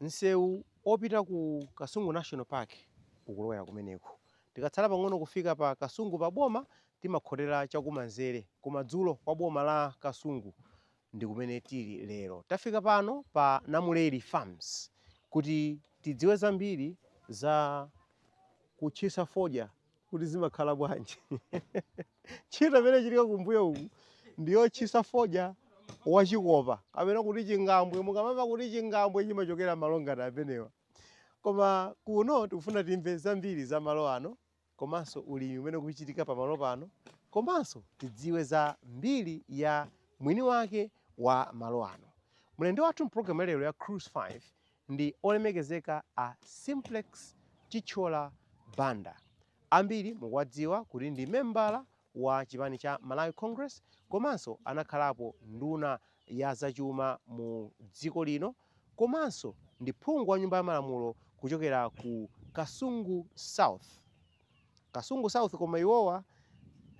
Msewu opita ku Kasungu National Park ukulowera kumeneko. Tikatsala pang'ono kufika pa Kasungu pa boma, timakhotera chakumanzere, kumadzulo kwa boma la Kasungu ndi kumene tili lero. Tafika pano pa Namuleri Farms kuti tidziwe zambiri za kutchisa fodya. kuti zimakhala bwanji. Ntchito imene ikuchitika kumbuyo uku ndi yotchisa fodya wachikopa kapena kuti chingambwe. Mukamamva kuti chingambwe chimachokera malo ngati amenewa. Koma kuno tikufuna timve zambiri za malo ano komanso ulimi umene ukuchitika pamalo pano komanso tidziwe za mbiri ya mwini wake wa malo ano. Mlendo wathu mpulogalamu ya lero ya Cruise 5 Ndi olemekezeka a Simplex Chithyola Banda. Ambiri mukuwadziwa kuti ndi membala wa chipani cha Malawi Congress komanso anakhalapo nduna ya zachuma mu dziko lino komanso ndi phungu wa nyumba ya malamulo kuchokera ku Kasungu South. Kasungu South koma iwowa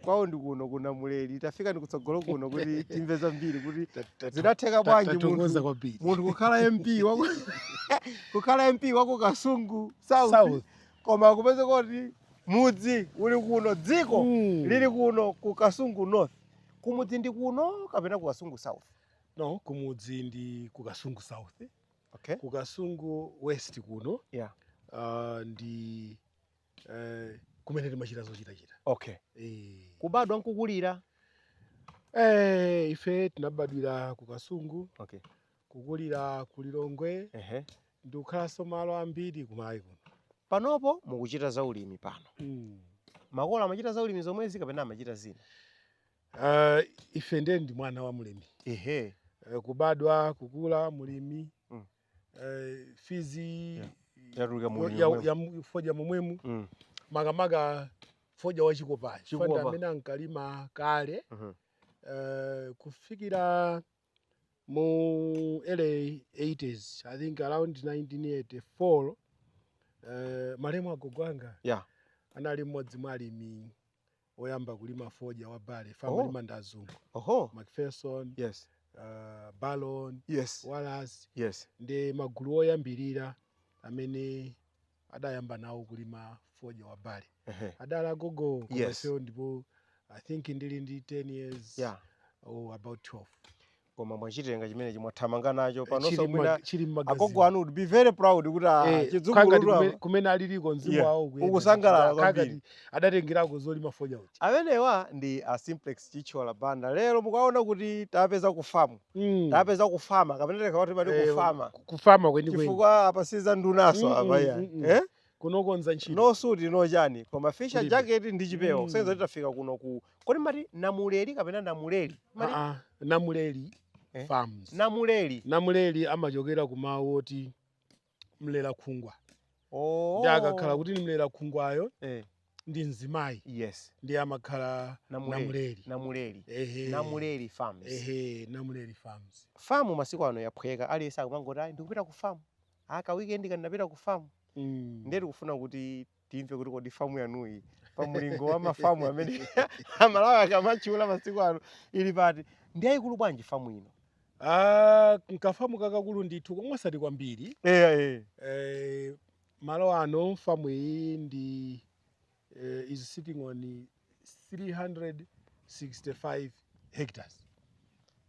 kwawo ndi kuno ku Namuleri. Tafikani kutsogolo kuno kuti timve zambiri kuti zinatheka bwanji munthu Tathokoza kwambiri. munthu kukhala MP waku kukhala MP waku Kasungu South, South. koma kupezeka kuti mudzi uli kuno dziko Mm. lili kuno ku Kasungu North kumudzi ndi kuno kapena ku Kasungu South No, kumudzi ndi ku Kasungu South. okay Ku Kasungu West kuno yeah uh, ndi eh, kumene timachita zochitachita okay eh. kubadwa nkukulira eh, ife tinabadwira ku kasungu okay kukulira ku lilongwe ehe ndikukhalanso malo ambiri kumalawi kuno panopo mukuchita za ulimi pano mm. makolo amachita za ulimi zomwezi kapena amachita zina uh, ife ndiye ndi mwana wa mlimi ehe uh, kubadwa kukula mlimi mm. eh, fees Yeah. Yatuluka mu- ya- mu- ya mu- fodya momwemu Mm. makamaka fodya wa chikopa Chikopa. ndi amene ankalima kale Mhm. eh, kufikira mu early 80s i think around 1984 eh, malemu agogo anga Yeah. anali mmodzi mwa alimi oyamba kulima fodya wa bale Oh. amalima ndi azungu oho macpherson yes uh, barron yes wallace yes ndiye magulu oyambirira amene adayamba nawo kulima fodya wa bale Ehe. adala gogo Yes. omwewo ndipo i think ndili ndi 10 years yeah or about 12 koma mwachitenga chimenechi mwathamanga nacho panonso Chili mwina m'ma- chili agogo m'magazini anu would be very proud kuti ah, Eh, khangati chidzukulutu kume- apa kumene aliliko mzimu Yeah, wawo ukuyenda ukusangalala ndithu. kwambiri. Khangati adatengerako zolima fodya kuti amenewa ndi a Simplex Chithyola Banda lero mukaona kuti tawapeza kufamu Mm. tawapeza kufamu kapena tikawati pati Eh, kufamu ku- kufamu kwenikweni chifukwa apa siza ndunaso Mm, apa mm, iyayi mm, mm. eh? kunokonza ntchito no suit no chani koma fisher Kulibe. jacket ndi chipewa Mm. kusenza titafika kuno ku Kodi mati namuleli kapena namuleli? Mati Aa, namuleli Eh? farms namuleli. namuleli amachokera ku mawu oti mlera khungwa Oh. ndi akakhala kuti ndi mlera khungwayo eh, ndi mzimayi yes. ndiye amakhala Namuleli. namuleli Namuleli. Ehe. Namuleli farms. ehe namuleli farms Famu masiku ano yaphweka aliyense akumangoti ayi ndikupita ku famu. Aka weekend ndinapita ku famu. Mm. Ndiye tikufuna kuti timve kuti kodi famu yanuyi pa mulingo wa mafamu amene amalawi akamatchula masiku ano ili pati ndi yayikulu bwanji famu ino Ah, nkafamu kakakulu ndithu koma osati kwambiri eya eh. eh, malo ano famu iyi ndi eh, is sitting on 365 hectares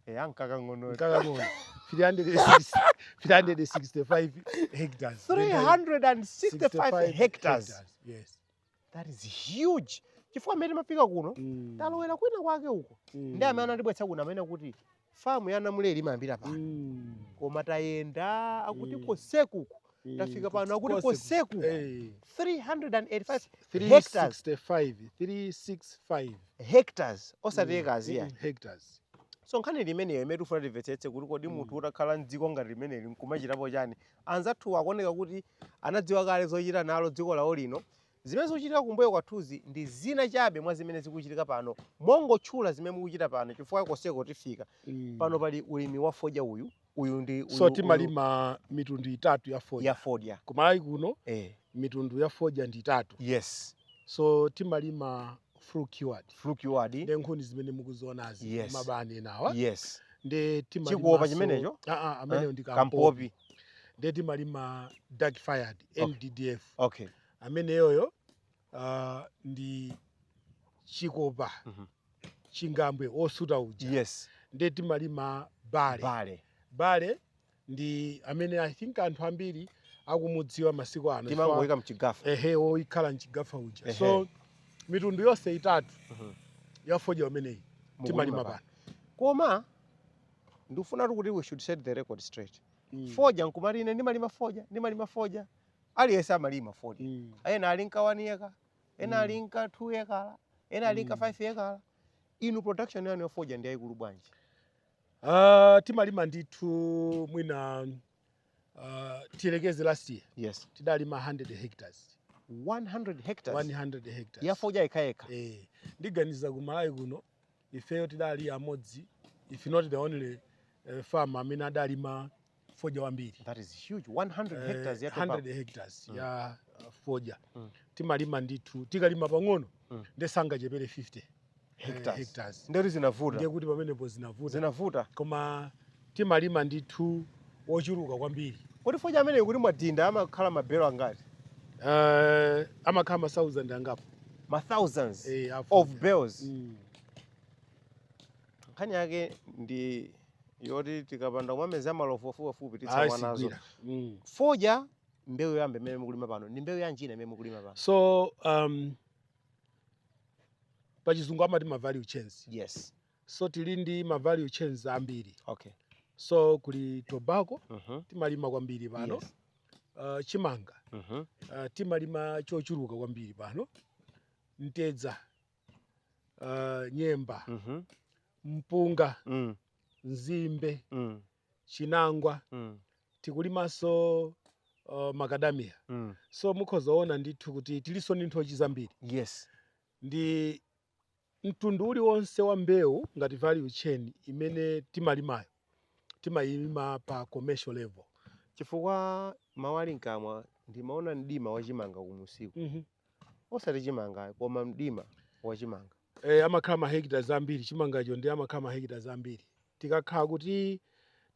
eya nkakang'ono nkakang'ono 365 hectares 365 hectares yes that is huge chifukwa mmene timafika kuno mm. talowera kwina kwake uko mm. ndi amene anatibweretsa kuno anena kuti famu ya namuleli imayambira pano Mm. koma tayenda akuti Mm. kosekuku Mm. tafika pano akuti Kose- kosekuku Eh. 385 hectares 365 365 hectares osati Mm, maekala mm, ayi hectares so nkhani ndi imeneyo imene tifuna timvetsetse kuti kodi Mm. munthu utakhala mdziko ngati limeneli nkumachitapo chani anzathuwa akuoneka kuti anadziwa kale zochita nalo dziko lawo lino Zimene zikuchitika kumbuyo kwathuzi ndi zina chabe mwa zimene zikuchitika pano, mungotchula zimene mukuchita pano chifukwa konseko tifika. Mm. Pano pali ulimi wa fodya uyu, uyu ndi uyu, so timalima uyu. mitundu itatu ya fodya, ya fodya. Kumalawi kuno eh. mitundu ya fodya ndi itatu. Yes. So timalima flue cured. Flue cured. Nde nkhuni zimene mukuzionazi. Yes. Mabani enawa. Yes. Nde timalima. Chikopa chimenecho? Ah ah, ameneyo ndi kampopi. Kampopi. Nde timalima dark fired, okay. NDDF. Okay. ameneyoyo ah, ndi chikopa chingambwe wosuta uja yes ndiye timalima burley burley burley ndi amene i think anthu ambiri akumudziwa masiku ano timangoyika mchigafa ehe wokhala mchigafa uja Ehe. so mitundu yonse itatu ya fodya imeneyi Mukulima timalima pano. pano koma ndikufunatu kuti we should set the record straight Mm. fodya nkumati ine ndimalima fodya ndimalima fodya aliyense amalima fodya Mm. ena alinka 1 yekala ena Mm. alinka 2 yekala ena alinka Mm. 5 yekala inu production yanu yafodya ndi yaikulu bwanji Ah, timalima ndithu mwina ah, tiyelekeze last year yes tidalima 100 hectares 100 hectares 100 hectares yafodya yekayekha eh ndiganiza ku malawi kuno ifeyo tidali amodzi if not the only uh, farm amene adalima fodya wambiri that is huge 100 eh, hectares ya 100 hectares mm. ya uh, fodya mm. timalima ndithu tikalima pang'ono mm. ndesangachepere 50 hectares, eh, hectares. ndekuti zinavuta ndekuti pamenepo zinavuta zinavuta koma timalima ndithu wochuluka kwambiri. Kodi fodya ameneyu kuti mwadinda amakhala ma belo angati? Uh, amakhala ma thousand angapo. Ma thousands eh, of bales. Mm. Nkhani yake ndi yoti tikapanda kumameza malovu afupiafupi titsamwa nazo. Mm. Fodya mbewu yoyamba imene mukulima pano ndi mbewu yanjina imene mukulima pano? So um, pachizungu amati ma value chains. Yes. so tili ndi ma value chains ambiri okay so kuli tobacco mhm timalima kwambiri pano Yes. uh, chimanga mhm uh, timalima chochuluka kwambiri pano mtedza uh, nyemba mhm mpunga mm nzimbe mm chinangwa mm tikulimanso uh, makadamiya mm so mukhoza kuona ndithu kuti tilinso ndi nthochi zambiri yes ndi Mtundu uliwonse wa mbewu ngati value chain imene timalimayo timayilima pa commercial level. Chifukwa mawu ali mkamwa ndimaona mdima wa chimanga kumunsiku. Osati chimanga ayi koma mdima wa chimanga. Eeh amakhala ma hectares ambiri chimangacho ndiye amakhala ma hectares ambiri. Tikakhala kuti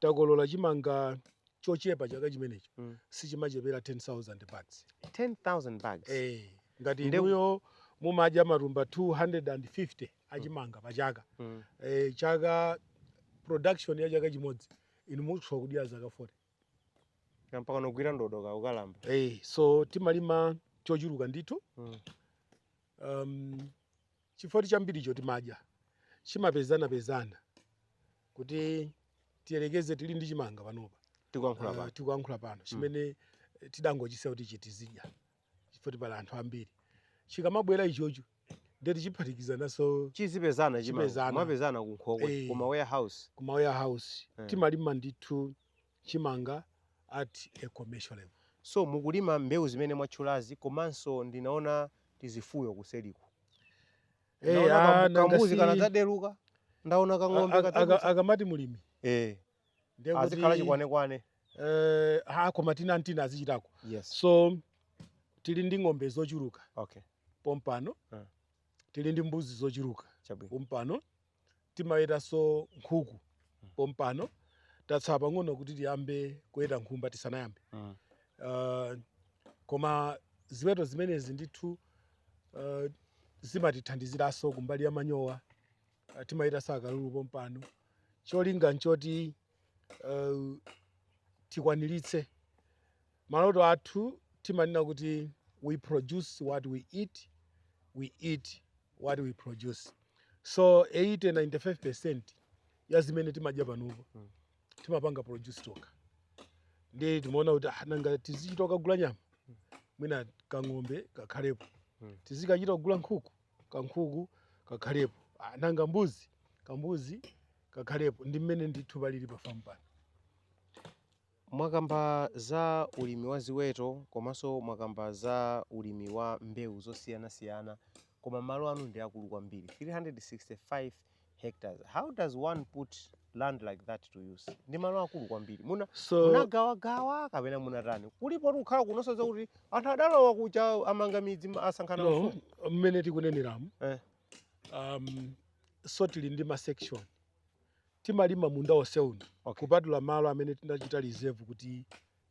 takolola chimanga chochepa chaka chimenecho mm. sichimachepera 10000 bags 10000 bags eh ngati Nde... inuyo mumadya matumba 250 achimanga mm. pa chaka mm. eh, chaka production ya chaka chimodzi inu mutha kudyera zaka 40 mpaka mogwira ndodo ka ukalamba eh so timalima chochuluka ndithu mm. um, Chifukwatu chambiricho timadya chimapezanapezana kuti tiyerekeze tili ndi chimanga panopa tikuyankhula Ah, pano tikuyankhula pano chimene eh, tidangochisiya kuti tizidya chifukwatu pali anthu ambiri chikamabwera ichocho ndiye tichiphatikizananso chizipezana chimanga Chipezana. kumapezana kunkhokwe Eh. kuma warehouse kuma warehouse Eh. timalima ndithu chimanga at a commercial level. So mukulima mbewu zimene mwatchulazi komanso ndinaona tizifuyo kuseriku. Eh, Ndaona ah, kambu- nanga kambuzi si- kanadzadutsa. Ndaona A- kang'ombe a- aka- kadzadutsa. akamati mulimi Eh, ndiye kuti azikhala chikwanekwane. eh, ha koma tina ndi tina azichitako Yes. so tili ndi ng'ombe zochuluka Okay. pompano Ah. tili ndi mbuzi zochuluka Chabwino. pompano timawetanso nkhuku pompano tatsala pang'ono kuti tiyambe kuweta nkhumba tisanayambe mm. uh, koma ziweto zimenezi ndithu uh, zimatithandiziranso kumbali ya manyowa uh, timawetanso akalulu pompano cholinga nchoti uh, tikwaniritse maloto athu timanena kuti we produce what we eat we eat what we produce so 80 95 percent ya zimene timadya panopo hmm. timapanga produce tokha nde timaona kuti ah, nanga tizichita kugula nyama hmm. mwina kang'ombe kakhalepo hmm. tizikachita kugula nkhuku kankhuku kakhalepo ah, nanga mbuzi kambuzi kakhalepo ndi mmene ndithu palili pa famu pano mwakamba za ulimi wa ziweto komanso mwakamba za ulimi wa mbewu zosiyanasiyana koma malo anu ndi aakulu kwambiri 365 hectares how does one put land like that to use ndi malo aakulu kwambiri muna so munagawagawa kapena munatani kulipo tikukhala kunonso zakuti anthu adalowa kuja amanga midzi ma- asankhana no mafumu mmene tikuneneramu Eh. um, so tili ndi ma section timalima munda onse uno Okay. kupatula malo amene tinachita reserve kuti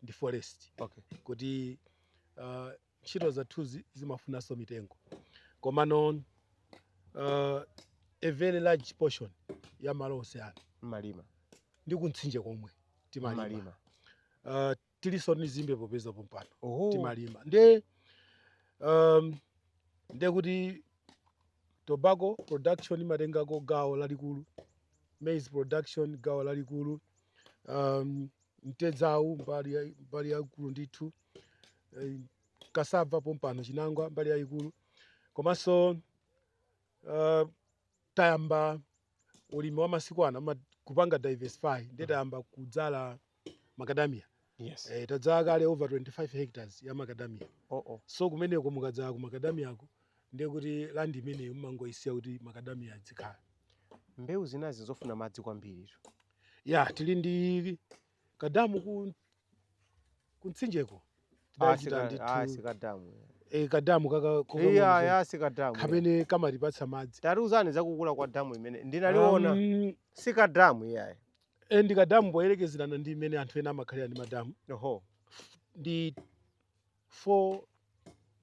ndi forest okay kuti uh, ntchito zathuzi zimafunanso mitengo komano uh, a very large portion ya malo onse ano mmalima ndi kumtsinje komwe timalima mmalima uh, tilinso ndi zimbe popeza pompano oho timalima nde um, nde kuti tobacco production imatengako gawo lalikulu maize production gawo lalikulu um, mtedzawu mbali ya- mbali yaikulu ndithu eh, kasava pompano chinangwa mbali yayikulu komanso uh, tayamba ulimi wa masiku ano ama- kupanga diversify ndiye tayamba kudzala makadamia yes eh, tadzala kale over 25 hectares ya makadamia oh, oh. so kumeneko mukadzala ku makadamiyako ndiye kuti landi imeneyo umangoyisiya kuti makadamiya adzikhala mbewu zinazi zofuna madzi kwambiri ya tili ndi kadamu ku kumtsinjeko Ah, tidachita sika- ah, ndithu sikadamu eh, kadamu kaka iyayi kokamwa iyayi sikadamu kamene kamatipatsa madzi tatiuzani zakukula kwa damu imene ndinaliona Um, si kadamu iyayi eh, ndi kadamu poyerekezerana ndi imene anthu ena amakhalira ndi madamu oho ndi 4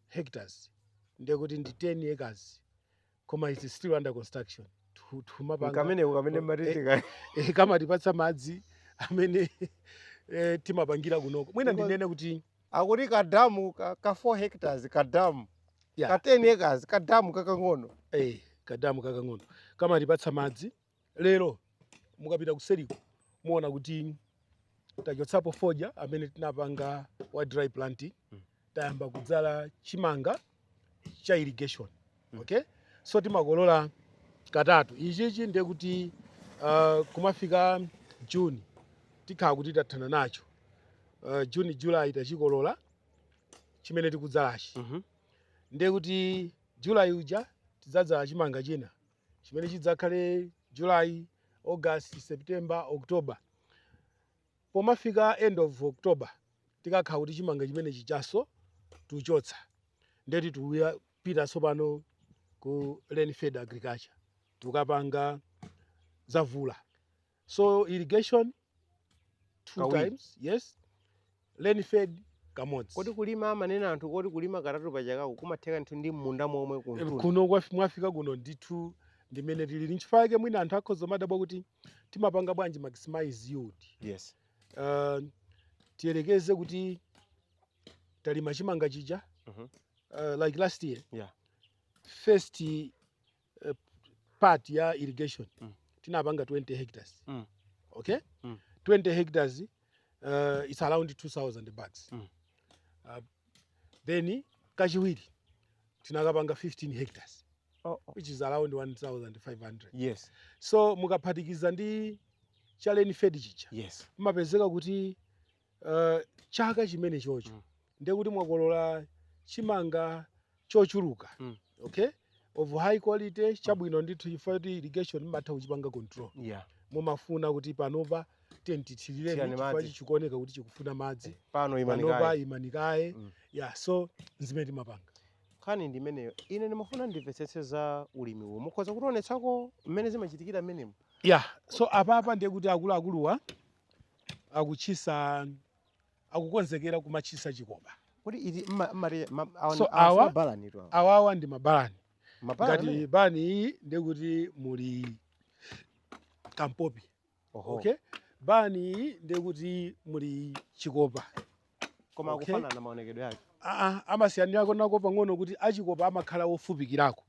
hectares ndiye kuti ndi 10 acres koma its still under construction Tu- tumapanga kameneko kamene Eh, kamatitika eh, kamatipatsa madzi amene eh, timapangira kunoko mwina Because- ndinene kuti akuti kadamu ka, ka 4 hectares kadamu Yeah. ka 10 acres kadamu kakang'ono eh, kadamu kakang'ono kamatipatsa madzi Lero mukapita kuseliko muwona kuti tachotsapo fodya amene tinapanga wa dry planting mm. tayamba kudzala chimanga cha irrigation mm. okay so timakolola katatu ichichi ndiye kuti uh, kumafika juni tikhala kuti tathana nacho uh, juni julayi tachikolola chimene tikudzalachi mm -hmm. ndiye kuti julayi uja tidzadzala chimanga china chimene chidzakhale July, August, September, October. Pomafika end of October tikakhala kuti chimanga chimene chijaso tuchotsa ndiye titiuyapita tsopano ku rain fed agriculture tukapanga zamvula. so irrigation two Kawiri. times yes rain fed kamodzi kodi kulima amanena anthu kodi kulima katatu pa chakako kumatheka ndithu ndi m'munda momwe Eh, kuntunda kuno kwafi- mwafika kuno ndithu ndimene tili nchifukwa yake mwina anthu akhoza kumadabwa kuti timapanga bwanji maximize yields yes uh, tiyerekeze kuti talima chimanga chija Mhm. uh, like last year Yeah. first eh, part ya irrigation mm. tinapanga 20 hectares mm. okay mm. 20 hectares uh, it's around 2000 bags mm. uh, then kachiwiri tinakapanga 15 hectares oh, oh. which is around 1500 yes so mukaphatikiza ndi cha rain fed chija yes umapezeka kuti Uh, chaka chimene chocho mm. ndiye kuti mwakolola chimanga chochuluka mm. okay of high quality chabwino mm. ndithu chifukwa kuti irrigation imatha kuchipanga control yeah. mumafuna kuti panopa tathirireni chikuoneka kuti chikufuna madzi eh, pano panopa imani kaye mm. yeah so nzimene timapanga nkhani ndi imeneyo ine ndimafuna ndimvetsetse za ulimi uwo mukhoza kutionetsako mmene zimachitikira mmenemo yeah so apapa ndiye kuti akuluakuluwa akutchisa akukonzekera kumatchisa chikopa kodi iti mma- mmati ma- awa- So, awa si awa- mabalani tu awa. awawa ndi mabalani Mabalani ngati amene? balani iyi ndekuti muli kampopi Oho. okay balani iyi ndekuti muli chikopa koma okay. akufanana maonekedwe ake Aa, amasiyanirako nako pang'ono kuti achikopa amakhala ofupikirako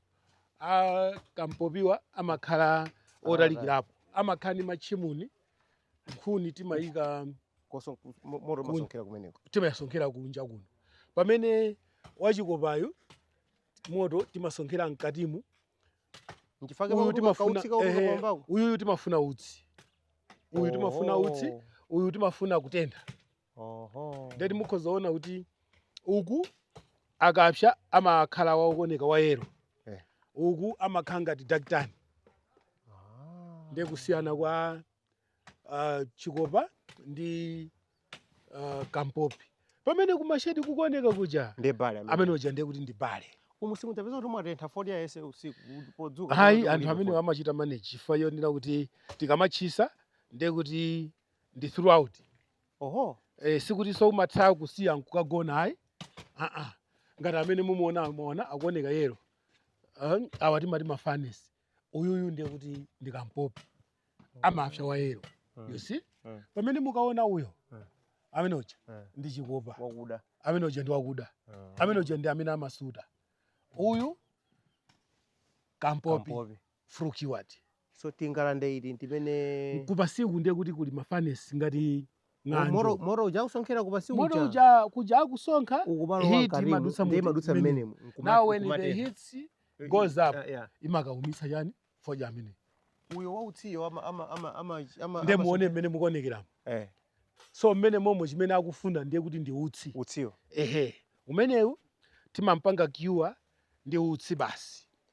a kampopiwa amakhala otalikirapo amakhala ndi matchimuni nkhuni timayika Koso- mo- moto masonkhera kumeneko timayasonkhera kunja kuno pamene wachikopayo moto timasonkhera mkatimu nchifukwa chake uyu timafuna ehe, pakutikaumbako uyuyu timafuna utsi uyu timafuna utsi uyu timafuna kutentha Oho. nde mukhoza kuona kuti uku akapsa amakhala wakuoneka wa yellow Eh. uku amakhala ngati dakitani Ah. ndiye kusiyana kwa uh, chikopa ndi uh, kampopi pamene kumashedi kukuoneka kuja Ndi bale amene. amene uja ndiye kuti ndi bale Umu simutapeza kuti mwatentha fodya yese usiku kuti podzuka. ayi kuti anthu mulime amene fodya. amachita manage chifukwa yonena kuti tikamatchisa ndiye kuti ndi throughout oho eh, sikutinso umatha kusiya nkukagona ayi aa ngati amene mumuona muona akuoneka yellow Ah, awa timati ma furnace uyuyu ndiye kuti ndi kampopi amapsa wa yellow you see Mm. pamene mukaona uyo Mm. amene uja Mm. ndi chikopa wakuda amene uja ndi wakuda amene uja ndi amene amasuta uyu kampopi kampopi Flue cured. So tingalande iti ntimene. Kupansiku ndiye kuti kuli ma furnace ngati ng'anjo. Moto moto uja akusonkhera kupansi uja. Moto uja kuja akusonkha heat imadutsa mu imadutsa mmenemo. Now when the heat goes up imakaumitsa chani fodya amene. Uyo wautsiyo ama ama ama ama ama. Ndiye muone mmene mukuonekera. Eh. So mmene momo chimene akufuna ndiye kuti ndi utsi. Utsiyo. Ehe. Umenewu timampanga cure ndi utsi basi.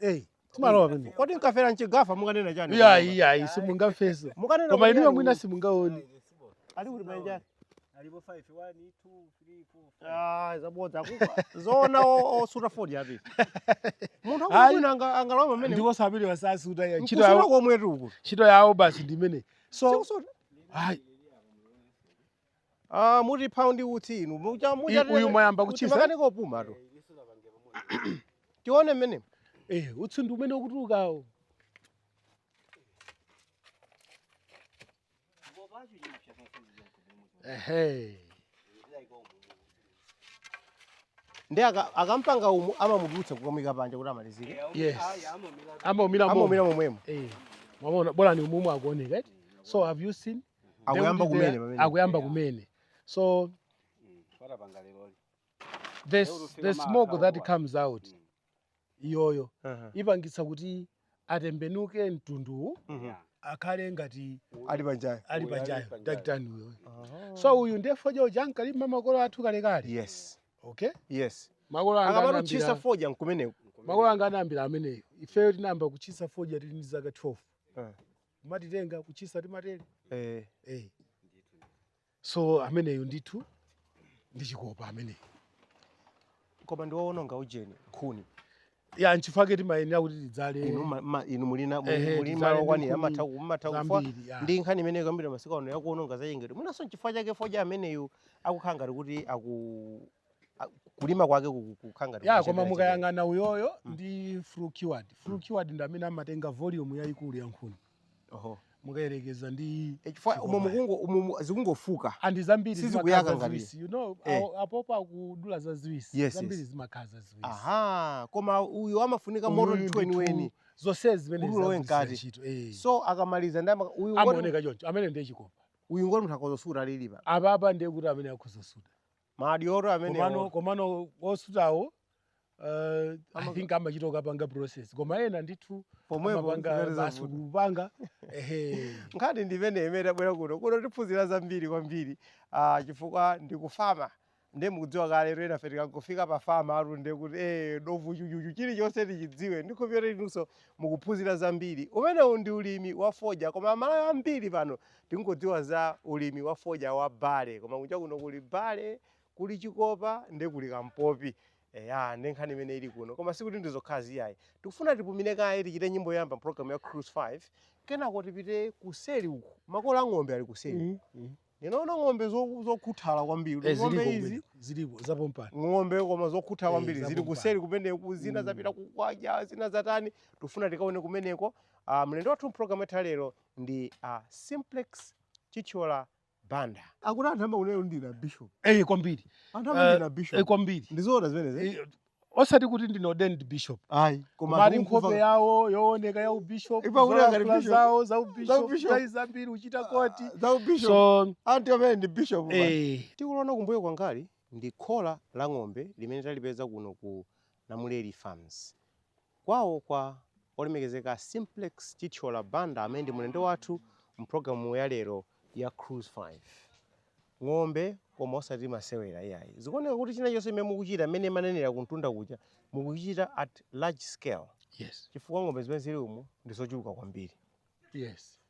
Ei, timalowa pamene. Kodi mkafera mchigafa mukanena chani? Iya, iya, iya, simungafeso. Mukanena Koma kuti inuyo yani- mwina simungaone. Ali kuti manja? Alipo 5, 1, 2, 3, 4, Ah, zabodza kuba. Zona o- osuta fodya api. Munthu Ayi. akubwina anga angalowa pamene. Ndipo sapirira wasasuta ya ntchito Nkusuta yawo. komwe tuku. Ntchito yawo basi ndi imene. So, Sikusuta. ayi, Ah, muti pali utsi inu. Mucha I- mucha. uyu mwayamba kutchisa? Akanika kupumatu. Tione mene. Eh, utsi ndi umene ukutulukawo. Ehe. Ndi aka- akampanga umu amamuchotsa kukamuika panja kuti amalizike. Yes. Amaumira momo. Amaumira momwemo. Eh. Mwamuona balani umumu akuoneka. eti? So have you seen? akuyamba Ndekuti kumene pamene akuyamba kumene so patapanga lero the, Leo tufika the ma smoke akhawo that wa. comes out Mm. iyoyo Aha. ipangitsa kuti atembenuke mtunduwu Mhm. Yeah. akhale ngati ali panjayo ali Uyu ali pajayo pajayo. dakitani uyoyo so uyu ndiye fodya uja ankalima makolo athu kalekale yes okay yes makolo anga akapano anayambira- chisa fodya kumeneko makolo anga anayambira ameneyo ifeyo tinayamba kuchisa fodya tili ndi zaka 12 Eh. kumatitenga kutchisa ndi matele eh. eh. so ameneyo ndithu ndi chikopa ameneyo koma ndiwowononga ujeni nkhuni ya nchifukwa chake timayenera kuti tidzale inu ma- ma- inu muli ndi Ehe, muli tidzale malo okwanira nkhuni amatha kumatha kufa zambiri, ya. ndi nkhani imene ikukambidwa masiku ano yakuononga zachilengedwe mwinanso nchifukwa chake fodya ameneyo akukhala ngati kuti aku a- kulima kwake kuku- kukhala ngati ya koma kuchepera chepera. mukayang'ana uyoyo Mm. ndi flu cured flu cured ndi amene amatenga volume yayikulu ya nkhuni Oho. mukayerekeza ndi E, chifukwa Chikopa. umo mukungo umo mu- zikungofuka ndi zambiri Sizikuyaka zimakhala ngati. ziwisi you know Eh. awo- apopo akudula za ziwisi Yes, zambiri yes. zimakhala ziwisi aha koma uyu amafunika Uyu moto ndi ndithu weniweni zonse zimene Kudula we zagwiritsa mkati. ntchito, eh. so akamaliza ndi ama- uyu ngoti- amaoneka choncho amene ndiye chikopa uyu ngoti munthu akhoza kusuta ali apapa ndiye kuti amene akhoza kusuta madyoro komano amenewo komano osutawo uh, i think amachita kukapanga process koma ena ndithu Pomwepo amapanga zikati basi zavuta. kupanga ehe nkhani ndimene imene tabwera kuno kuno tiphunzira zambiri kwambiri ah, chifukwa ndikufama ndiye mukudziwa kale kuti enafe tikangofika pa famu tu ndiye kuti eh, dovu chuchuchu chilichonse tichidziwe ndikhulupirira inunso mukuphunzira zambiri umenewu ndi ulimi wa fodya koma amalawi ambiri pano Tingodziwa za ulimi wa fodya wa barley koma kunja kuno kuli barley, kuli chikopa nde kuli kampopi. Eya nde nkhani imene ili kuno koma sikuti ndi zokhazo iyayi. Tikufuna tipumile kaye tichite nyimbo yoyamba m'programu ya Cruise 5 kenako tipite kuseli uku, makolo a ng'ombe ali kuseli uku. Ndinaona ng'ombe zokhuthala kwambiri. Kuti ng'ombe izi, ng'ombe koma zokhuthala kwambiri zili kuseli kumeneku, zina zapita kukadya, zina zatani. Tikufuna tikaone kumeneko. Mlendo wathu m'programu yathu ya lero ndi a Simplex Chithyola Banda. Akuti anthu amakunenani kuti ndinu bishop. Eh kwambiri. Anthu amakunenani ndinu bishop. Eh kwambiri. Ndizoona zimenezi. Eh? Eh, osati kuti ndine ordained bishop. Ayi. Koma mwina nkhope yawo yooneka ya ubishop. Ipa kuti ngati bishop. Zawo za ubishop. Za zambiri uchita koti. Ah, za ubishop. So anthu amene ndi bishop. Eh. Chikuoneka kumbuyo kwangali ndi khola la ng'ombe limene talipeza kuno ku Namuleli Farms. kwawo kwa Olemekezeka a Simplex Chithyola Banda amene ndi mulendo wathu mu program ya lero ya Cruise 5. Ng'ombe koma osati masewera iyayi. Zikuoneka kuti china chilichonse chimene mukuchita mmene mumanenera kumtunda kuja mukuchichita at large scale Yes. chifukwa ng'ombe zimene zili umu ndi zochuluka kwambiri. Yes.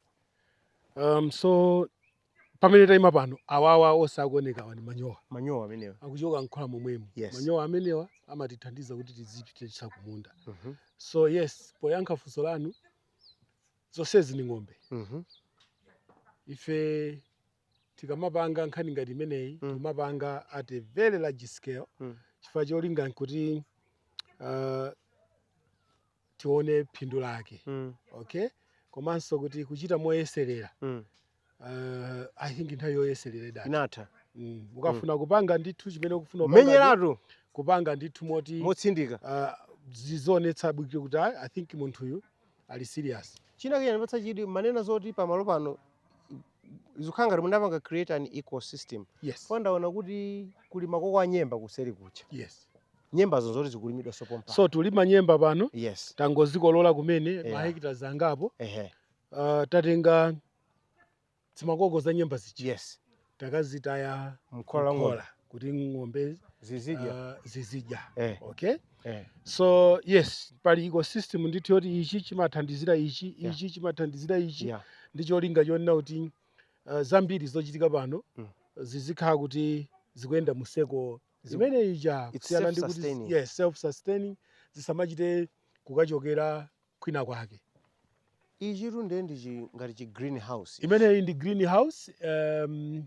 Um, so pamene taima pano awawa onse akuonekawa ni manyowa manyowa amenewa akuchoka mkhola momwemo yes. manyowa amenewa amatithandiza kuti tizipititsa kumunda mm -hmm. so yes poyankha funso lanu zonsezi ni ng'ombe mm -hmm. ife tikamapanga nkhani ngati imeneyi mm. timapanga at a very large scale mm. chifukwa cholinga nkuti uh, tione phindu lake mm. okay komanso kuti kuchita moyeserera mm. uh, i think nthawi yoyeserera idatha inatha mm. ukafuna mm. kupanga ndithu chimene ukufuna kumenyeratu kupanga ndithu moti motsindika uh, zizionetsa bwino kuti i think munthuyu ali serious china chikunipatsa chidwi mwanena zoti pamalo pano zikukhala ngati munapanga create an ecosystem yes chifukwa ndaona kuti kuli makoko a nyemba kuseri kuja yes nyembazo zoti zikulimidwanso pompano so tulima nyemba pano yes tangozikolola kumene yeah. mahekitala angapo ehe uh, tatenga zimakoko za nyemba zija yes takazitaya mkhola mkhola kuti ng'ombe zizidya uh, zizidya eh. okay eh. so yes pali ecosystem ndithu yoti ichi chimathandizira ichi yeah. ichi chimathandizira ichi yeah. ndi cholinga chonena kuti uh, zambiri zochitika pano mm. zizikhala kuti zikuyenda mu circle zimenezija kusiyana ndi kuti yes self sustaining zisamachite kukachokera kwina kwake. Ichitu ndiye ndi chi- ngati chi green house. ichi. Imeneyi ndi green house. Um,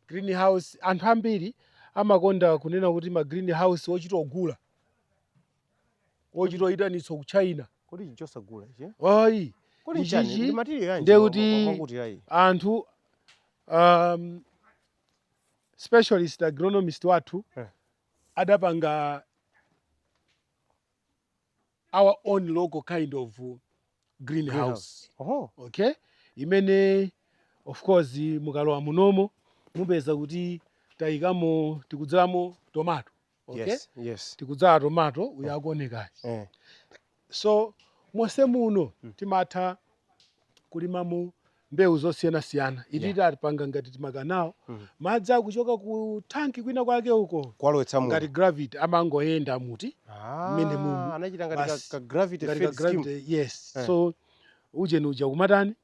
green house anthu ambiri amakonda kunena kuti ma green house ochita ogula ochita oyitanitsa ku China. Kodi ichi chosagula ichi? eh? Ayi, Kodi Ichi- nchiyani? ichi Ndi material yanji ndiye wa- wa- kuti- wakuti yayi? anthu um, specialist agronomist wathu Eh. adapanga our own local kind of uh, greenhouse Oho. okay imene of course mukalowa munomo mupeza kuti tayikamo tikudzalamo tomato okay Yes, yes. tikudzala tomato uyo akuonekayo Eh. so monse muno timatha kulimamo mbewu zosiyanasiyana ili Yeah. tapanga ngati timakanawo Mhm. madzi kuchoka ku thanki kwina kwake uko kuwalowetsa muno ngati gravity amangoyenda moti Ah, mmene mumu. anachita ngati ka- Basi. ka gravity ngati ka fed scheme. gravity yes Eh. so ujeni uja kumatani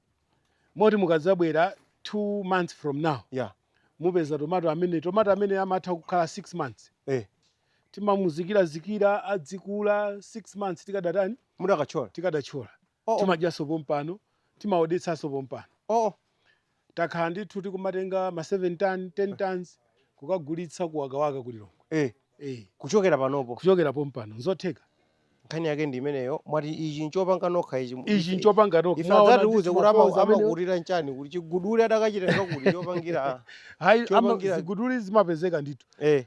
moti mukadzabwera two months from now Yeah. mupeza tomato amene tomato amene amatha kukhala six months Eh. timamuzikirazikira adzikula six months tikadatani mukadatchola tikadatchola Oh, oh. timadyanso pompano timaodetsanso pompano Oh, oh. takhala ndithu tikumatenga ma 7 ton 10 tons kukagulitsa ku wakawaka ku lilongwe Eh, eh. kuchokera panopo kuchokera pompano nzotheka nkhani yake ndi imeneyo mwati ichi nchopanga nokha ichi ichi nchopanga nokha ife Mwina adzatiuze ndithu kuti ama- mapoza amenewo. amakulira nchani kuti chiguduli adakachitenga kuti chopangira Hayi, ama- chopangira- ziguduli zimapezeka ndithu eh.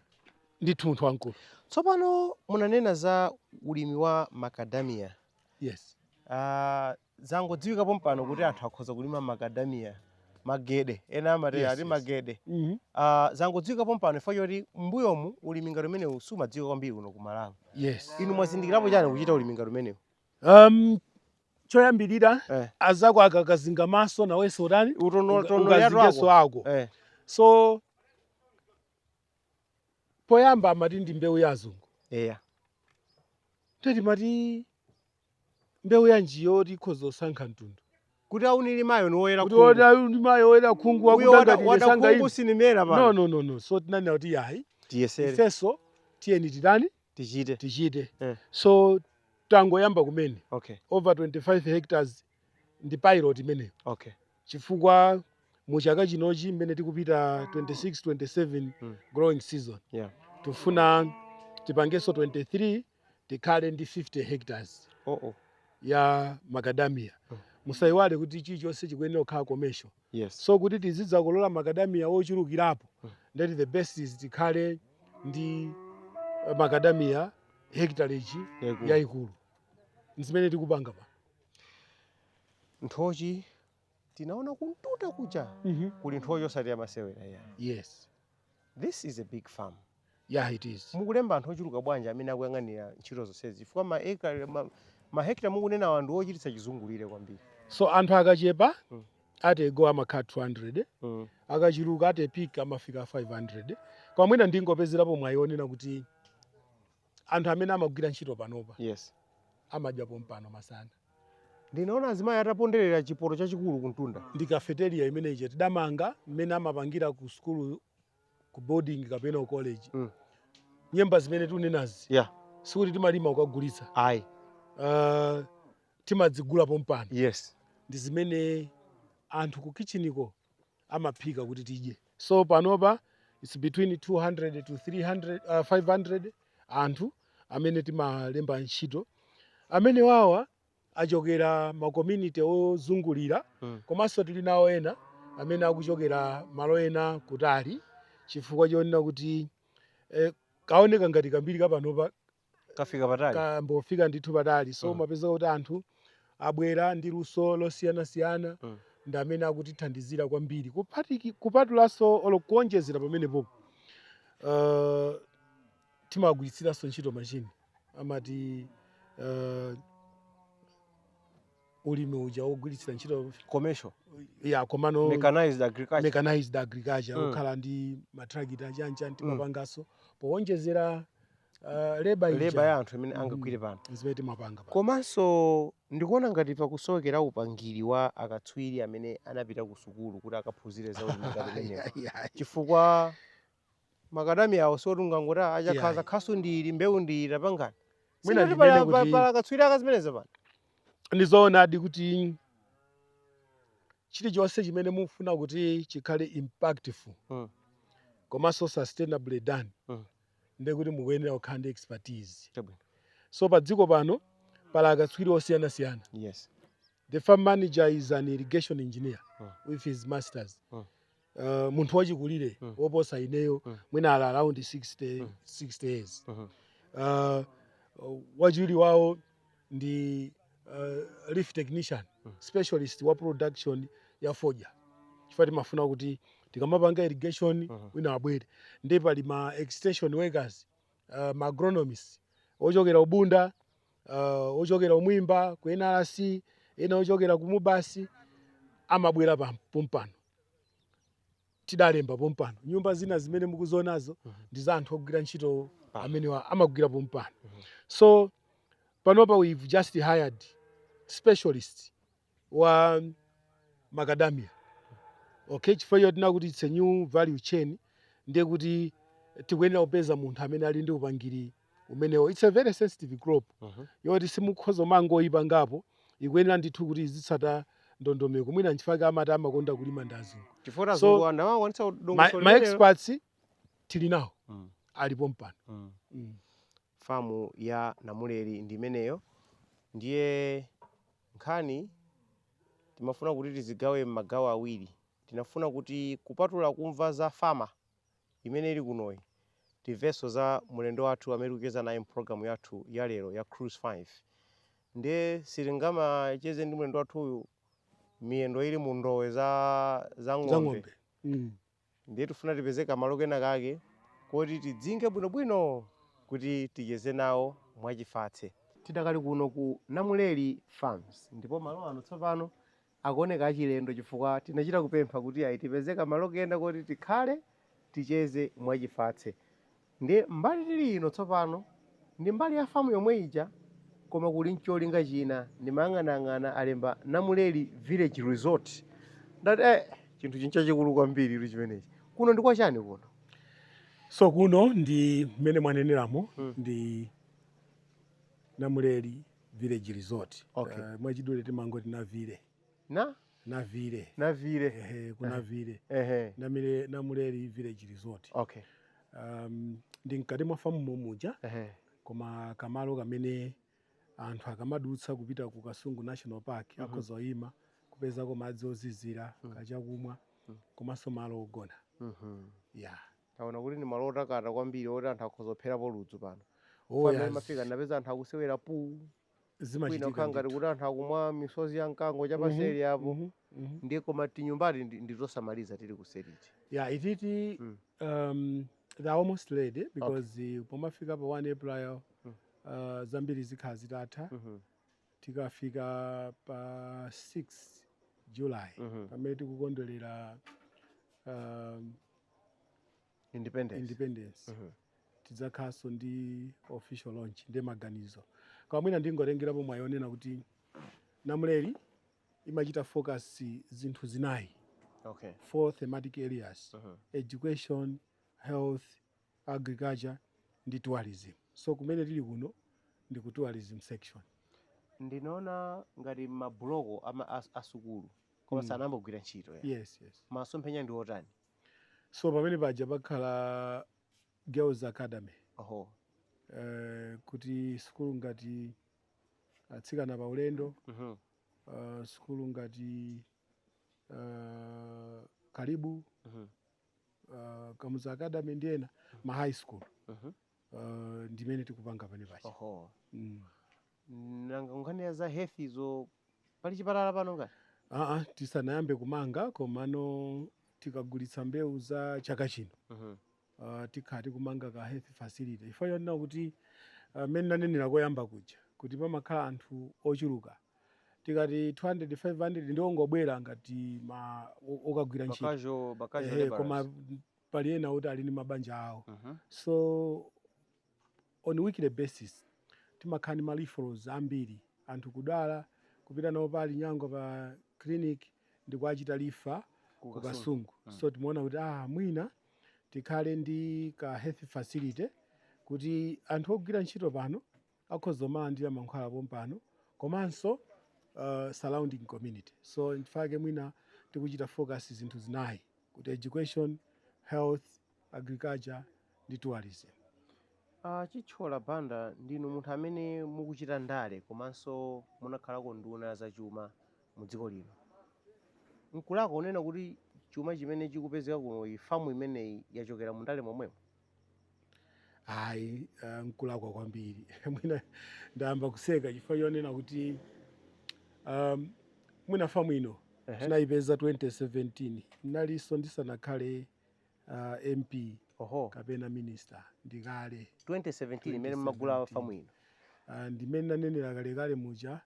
ndithu munthu wamkulu tsopano munanena za ulimi wa macadamia yes Ah, zangodziwika pompano kuti anthu akhoza kulima makadamiya magede ena amati Yes, ati yes. magede Mhm. Ah, zangodziwika pompano chifukwa choti mbuyomu ulimi ngati umenewu sumadziwika kwambiri kuno ku malawi yes inu mwazindikirapo chani kuchita ulimi ngati umenewu um choyambirira Eh. azako akakazinga maso nawenso utani ukazingenso ako eh. so poyamba amati ndi mbewu ya azungu eya ndiye timati mbewu yanji yoti ikhoza kusankha mtundu kuti ondilimayo ndi woyera kuti khungu. ota ndi mayi oyera khungu uyo wakuda wada, ngati wada ndesanga khungu ine sindimera no pano no no no so tinanena kuti yayi tiyesere ifenso tiyeni titani tichite tichite Eh. so tangoyamba kumene okay over 25 hectares ndi pilot imeneyo okay. chifukwa mu chaka chinochi mmene tikupita 26 27 Mm. growing season Yeah. tifuna tipangenso 23 tikhale ndi 50 hectares Oh, oh. ya macadamia Mm. musayiwale kuti chilichonse chikuyenera kukhala commercial Yes. so kuti tizidzakolola macadamia ochulukirapo Mm. that the best is tikhale ndi eh, macadamia hectarage Yaikulu. yayikulu zimene tikupanga pa nthochi tinaona kumtunda kuja kuli nthochi osati zamasewera iyayi yes this is a big farm yeah it is mukulemba anthu ochuluka bwanji amene akuyang'anira ntchito zonsezi chifukwa maekare ma, mahekita mukunenawa ndi ochititsa chizungulire kwambiri so anthu akachepa Mm. at a go amakhala 200 mm. akachuluka at peak amafika 500 koma mwina ndingopezerapo mwayi wonena kuti anthu amene amagwira ntchito panopa yes amadya pompano masana ndinaona azimayi ataponderera chipoto chachikulu kumtunda ndi cafeteria imene ija tidamanga mmene amapangira ku sukulu ku boarding kapena ku college Mm. nyemba zimene tunenazi yeah sikuti timalima kukagulitsa ayi uh, timadzigula pompano yes ndi zimene anthu ku kitchiniko amaphika kuti tidye so panopa its between 200 to 300, uh, 500 anthu amene timalemba ntchito amenewawa ochokera ma community ozungulira mm. komanso tili nawo ena amene akuchokera malo ena kutali chifukwa chonena kuti eh, kaoneka ngati kambiri kapanopa kafika patali kambofika ndithu patali so Mm. mumapeza kuti anthu abwera ndi luso losiyanasiyana Mm. ndi amene akutithandizira kwambiri Kupatiki- kupatulanso olo kuonjezera pamenepo uh, timagwiritsanso ntchito machine amati uh, ulimi uja wogwiritsira ntchito commercial yeah komano mechanized agriculture mechanized agriculture Mm. okhala ndi matrakitala achani chani timapanganso powonjezera uh, leba leba ya ija anthu imene Mm. angagwire pano zimene timapanga pa komanso ndikuona ngati pakusowekera upangiri wa akatswiri amene anapita ku sukulu kuti akaphunzire za ulimi ngati umenewu. chifukwa makadamiyawo si oti ungangoti "Ah, achakuti Iyayi. khasu ndi ili mbewu ndi iyi tapangani Mwina sikuti ndimene pala pa- kuti- pala akatswiri ake a zimenezo pano ndizoonadi kuti chilichonse chimene mukufuna kuti chikhale impactful Mm. komanso sustainably done Mm. ndiye kuti mukuyenera kukhala ndi expertise Chabwino. so pa Dziko pano pali akatswiri osiyanasiyana yes the farm manager is an irrigation engineer Mm. with his masters Mm. uh, munthu wachikulire mm. woposa ineyo mm. mwina ali around 60, mm. 60 years mm -hmm. uh, wachiwiri wawo ndi uh, leaf technician mm. specialist wa production ya fodya chifukwa timafuna kuti tikamapanga irrigation mm -hmm. wina abwere ndi pali ma extension workers uh, ma agronomist ochokera ku Bunda uh, ochokera ku Mwimba ku NRC ena ochokera ku MUBAS amabwera pa- pompano tidalemba pompano nyumba zina zimene mukuzionazo ndi za anthu ogwira ntchito amenewa amagwira pompano so panopa we've just hired specialist wa macadamia okay chifukwa chonena kuti it's a new value chain ndiye kuti tikuyenera kupeza munthu amene ali ndi upangiri umenewo it's a very sensitive crop Mhm. yoti simukhoza kumangoyipangapo ikuyenera ndithu kuti izitsata ndondomeko mwina nchifake amati amakonda kulima ndi azungu chifukwa So, azungu ana awo akwanitsa ma, kudongosolo malimidwewo. experts tili nawo Mm. ali pompano Mm. mm. Farm ya Namuleri ndi imeneyo ndiye nkhani timafuna kuti tizigawe m'magawo awiri. Tinafuna kuti kupatula kumva za farm imene ili kunoyi, timvenso za mlendo wathu amene tikucheza naye m'programu yathu ya lero ya Cruise 5. Ndiye sitingamacheze ndi mlendo wathuyu miyendo ili mu ndowe za za za ng'ombe. ng'ombe mm. Ndiye tifuna tipeze kamalo kena kake koti tidzinke bwinobwino kuti ticheze nawo mwachifatse. Tidakali kuno ku Namuleri Farms ndipo malo ano tsopano akuoneka achilendo chifukwa tinachita kupempha kuti ayi tipeze kamalo kena koti tikhale, ticheze mwachifatse. Ndiye, mbali tiri ino tsopano, ndi mbali ya famu yomwe ija, koma kuli ncholinga china. Ndimayang'anayang'ana, alemba Namuleli Village Resort. Ndati, Eh, chinthuchi nchachikulu kwambiritu chimenechi. Kuno ndi kwa chani kuno? So, kuno ndi, mmene mwaneneramo, ndi Namuleli Village Resort. Okay. Mwachidule timangoti Navile. na navile navile ehe kunavile ehe navile namuleli village resort okay um, ndi mkati mwa famu momuja ehe koma kamalo kamene anthu akamadutsa kupita ku kasungu national park akhoza kuyima kupezako madzi ozizira kachakumwa komanso malo ogona mhm ya taona kuti ndi malo otakata kwambiri oti anthu akhoza kupherapo ludzu pano Oh, Pamene yes. timafika tinapeza anthu akusewera pool kwina zimachitika kukhala ngati ndithu kuti anthu akumwa misozi ya mkango Mhm, chapaseli apo mhm, mhm. ndiye koma tinyumbati ndi- nditosamaliza tili kuseriti yeah ititi Mm. um, they're almost ready because okay. pomafika pa 1 april Mm. uh, zambiri zikhala zitatha Mhm, tikafika pa 6 july mhm. pamene tikukondwerera um, independence independence Mhm. tidzakhalanso ndi official launch ndi maganizo koma mwina ndingotengerapo mwayi onena kuti namuleri imachita focus zinthu zinayi okay four thematic areas Mhm. education health agriculture ndi tourism so kumene tili kuno ndi ku tourism section ndinaona ngati mabuloko ama as- asukulu koma Mm. sanambogwira ntchito ya yes yes masomphenya ndi otani so pamene paja pakhala girls academy oho eh, kuti sukulu ngati atsikana pa ulendo mhm uh, sukulu ngati uh, kalibu mhm uh, kamuzu academy ndi ena ma high school mhm uh, ndimene tikupanga pano panopa oho mm. nanga nkhani ya za health izo pali chipatala pano ngati aa tisanayambe kumanga komano tikagulitsa mbewu za chaka chino Mhm. uh, tikhala tikumanga ka health facility chifukwa chonena kuti uh, mmene nanenera koyamba kuja kuti pamakhala anthu ochuluka tikati 200 500 ndiongobwera ngati ma o- okagwira ntchito bakajo bakajo Ehe, koma laborers. pali ena oti ali ndi mabanja awo so on weekday basis timakhala ndi ma referrals ambiri anthu kudwala kupita nawo pa Linyangwa pa clinic ndi kuwachita refer Ku ku Kasungu. kasungu so timaona kuti ah mwina tikhale ndi ka health facility kuti anthu ogwira ntchito pano akhoza kumalandira mankhwala pompano komanso uh, surrounding community so nchifukwa chake mwina tikuchita focus zinthu zinayi kuti education health agriculture ndi tourism Uh, Chithyola Banda ndinu munthu amene mukuchita ndale komanso munakhalako nduna zachuma mu dziko lino nkulakwa kunena kuti chuma chimene chikupezeka kuno ku famu imeneyi yachokera mu ndale momwemo ayi ah, nkulakwa kwambiri mwina ndayamba kuseka chifukwa chonena kuti um, mwina famu ino Ehe. tinayipeza 2017 ndilinso ndisanakhale uh, mp oho kapena minister ndikale 2017 imene mumagula 2017. famu ino Ah, ndimmene ndanenera kalekale muja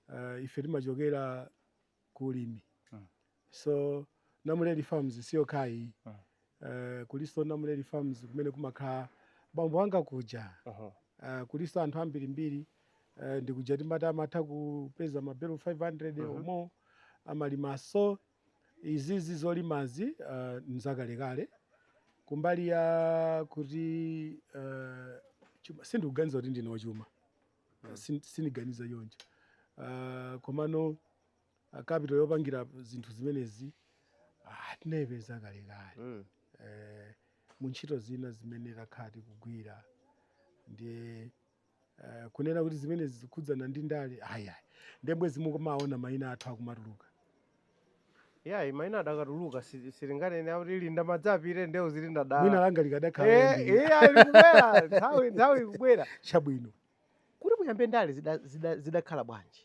ah, ife timachokera ku ulimi mm. so Namuleri Farms si yokhayi mm. uh, eh, kulinso Namuleri Farms kumene kumakhala bambo anga kuja uh -huh. uh, eh, kulinso anthu ambirimbiri uh, eh, ndikuja timati amatha kupeza mabelo 500 uh -huh. omwe amalima so izizi zolimazi uh, nzakalekale kumbali ya kuti uh, sindikuganiza kuti ndine wachuma Ah, sin- siniganiza choncho Ah, komano ah, capital yopangira zinthu zimenezi ah, tinayipeza kalekale Mm. eh, mu ntchito zina zimene takhala tikugwira ndiye eh, kunena kuti zimenezi zikukhudzana ndi ndale ayayi nde bwenzi mukumaona mayina athu akumatuluka yayi maina akadatuluka si- sitinganene kuti linda madzi apite nde uzili mwina dzina langa likadakhala Eh, lambiri. eh, ali kubwera nthawi nthawi ikubwera chabwino kuti muyambe ndale zida- zida- zidakhala bwanji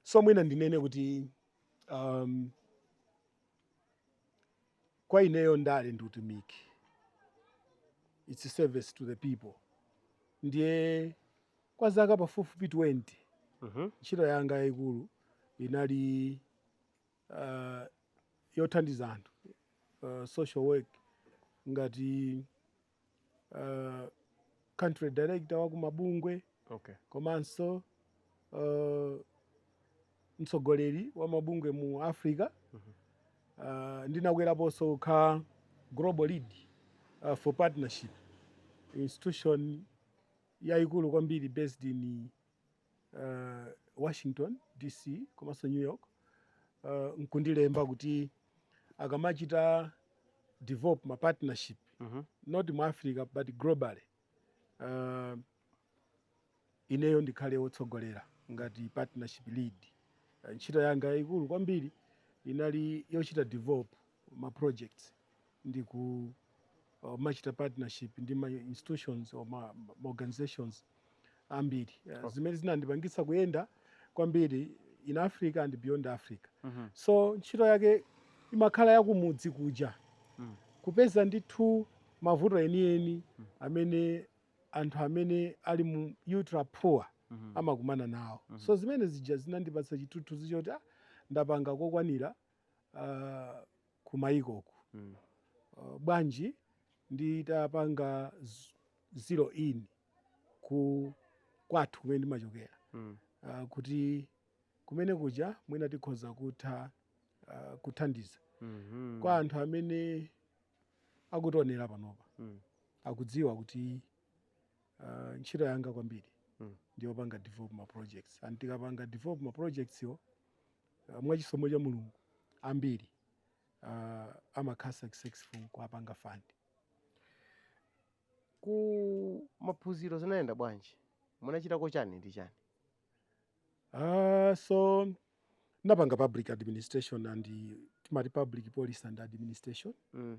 so mwina ndinene kuti um, Kwa ineyo ndale ndi utumiki it's service to the people ndiye kwa zaka pafupifupi 20 ntchito yanga yaikulu inali uh, yothandiza anthu uh, social work ngati uh, country director wa mabungwe okay. komanso uh, mtsogoleri wa mabungwe mu africa mm -hmm. uh, ndinakweraponso kukhala global lead uh, for partnership institution yayikulu kwambiri based in uh, washington dc komanso new york uh, nkundilemba kuti akamachita develop ma partnership Mhm. not mu africa but globally uh, ineyo ndikhale wotsogolera ngati partnership lead uh, ntchito yanga yayikulu kwambiri inali yochita develop ma projects ndi kumachita partnership ndi ma institutions or ma, ma organizations ambiri uh, okay. zimene zinandipangitsa kuyenda kwambiri in africa and beyond africa mm -hmm. so ntchito yake imakhala yakumudzi kuja mm. kupeza ndithu mavuto enieni mm. amene anthu amene ali mu ultra poor mm -hmm. amakumana nawo mm -hmm. so zimene zija zinandipatsa chithunzithunzi choti ah, ndapanga kokwanira uh, kumayikoku bwanji nditapanga zero in ku kwathu kumene ndimachokera kuti kumene kuja mwina tikhoza kutha ah, kuthandiza kwa anthu amene akutionera panopa akudziwa kuti ah, ntchito yanga kwambiri ndiyopanga develop ma projects and tikapanga develop ma projects wo Ah, mwa chisomo cha mulungu ambiri ah, amakhala successful kuwapanga fund ku maphunziro zinayenda bwanji munachitako chani ndi chani Ah, so napanga public administration and eh, timati public policy and administration mm.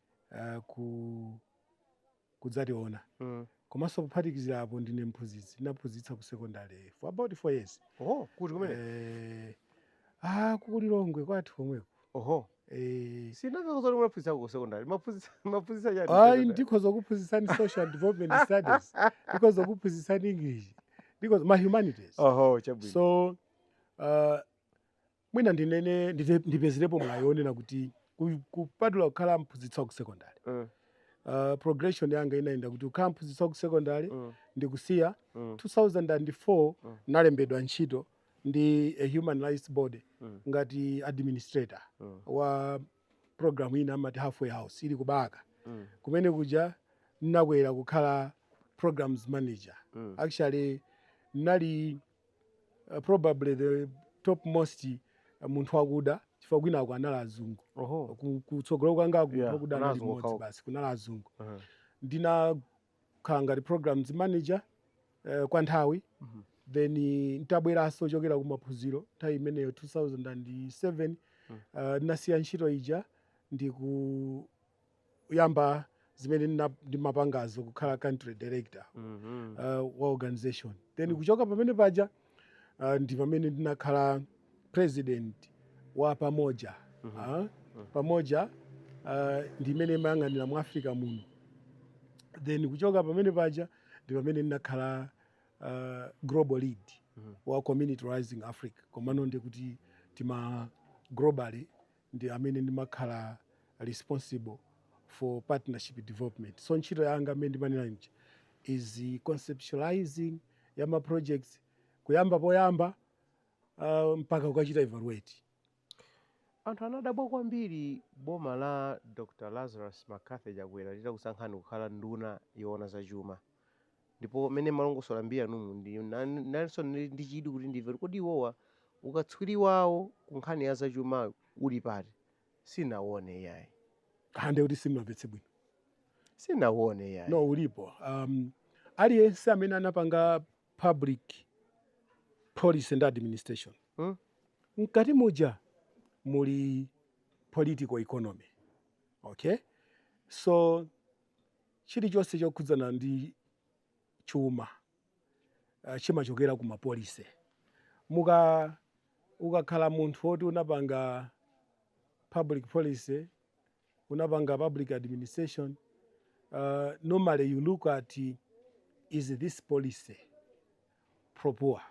uh, ku kudzationa mm. komanso kuphatikizira apo ndine mphunzitsi ndinaphunzitsa ku secondary for about four years oh, kuti kumene eh, ah, kukulilongwe kwathu komweko oho eh, simunakatiuza kuti mumaphunzitsa ku secondary maphunzitsa mumaphunzitsa chani ayi secondary? ndikhoza kuphunzitsani social development studies ndikhoza kuphunzitsani english ndikhoza ma humanities oho chabwino so uh, Mwina ndinene ndite- ndipezerepo mwayi wonena kuti ku- kupatula kukhala mphunzitsi wa ku secondary Mm. uh, progression yanga inayenda kuti kukhala mphunzitsi wa ku secondary Mm. ndikusiya Mm. 2004 Mm. nalembedwa ntchito ndi a human rights body Mm. ngati administrator Mm. wa program ina amati halfway house ili ku balaka Mm. kumene kuja ndinakwera kukhala programs manager Mm. actually nali probably the topmost uh, munthu wakuda chifukwa kwinako anali azungu Oho. Ku- kutsogolo kwangako Yeah, munthu wakuda anali mmodzi basi kunali azungu Uh-huh. ndinakhala ngati programs manager uh, kwa nthawi Mhm. then eh, ntabweranso kuchokera kumaphunziro nthawi imeneyo 2007 Mm. uh, ndinasiya ntchito ija kuyamba zimene ndina- ndimapangazo kukhala country director Mhm. uh, wa organization then kuchoka pamene paja uh, ndi pamene ndinakhala president wa pamoja uh, pamoja uh, ndi imene imayang'anira mu africa muno then kuchoka pamene paja ndi pamene ndinakhala uh, global lead wa community rising africa komano ndi kuti tima globally ndi amene ndimakhala responsible for partnership development so ntchito yanga mmene ndimanenera muja is conceptualising ya ma projects kuyamba poyamba uh, mpaka kukachita evaluate anthu anadabwa kwambiri boma la dr lazarus mccarthy chakwera litakusankhani kukhala nduna yoona zachuma Ndipo mmene mumalongosola mbiri yanumu, ndinalinso ndi chidwi kuti ndimve kuti kodi iwowa ukatswiri wawo ku nkhani ya zachuma uli pati. Sindinauone iyayi. Ha, ndiye kuti simunamvetse bwino. Sindinauone iyayi. No, ulipo. Um, aliyense amene anapanga public policy ndi administration Hmm? mkati muja muli political economy okay so Chilichonse chokhudzana ndi chuma chimachokera ku mapolicy. Mukakhala munthu woti unapanga public policy, unapanga public administration, normally you look at is this policy pro-poor,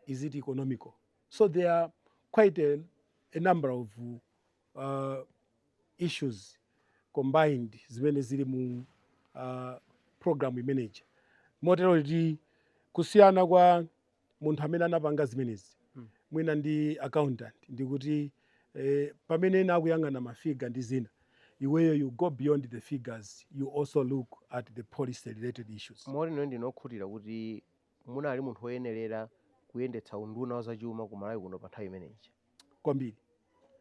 is it economical. So there are quite a number of issues combined zimene zili mu program imene ija motero kuti kusiyana kwa munthu amene anapanga zimenezi mwina ndi accountant ndikuti eh, pamene ena akuyang'ana mafiga ndi zina iweyo you go beyond the figures you also look at the policy related issues moti inu ndinu okhutira kuti munali munthu woyenerera kuyendetsa unduna wa zachuma ku malawi kuno pa nthawi imene ija kwambiri.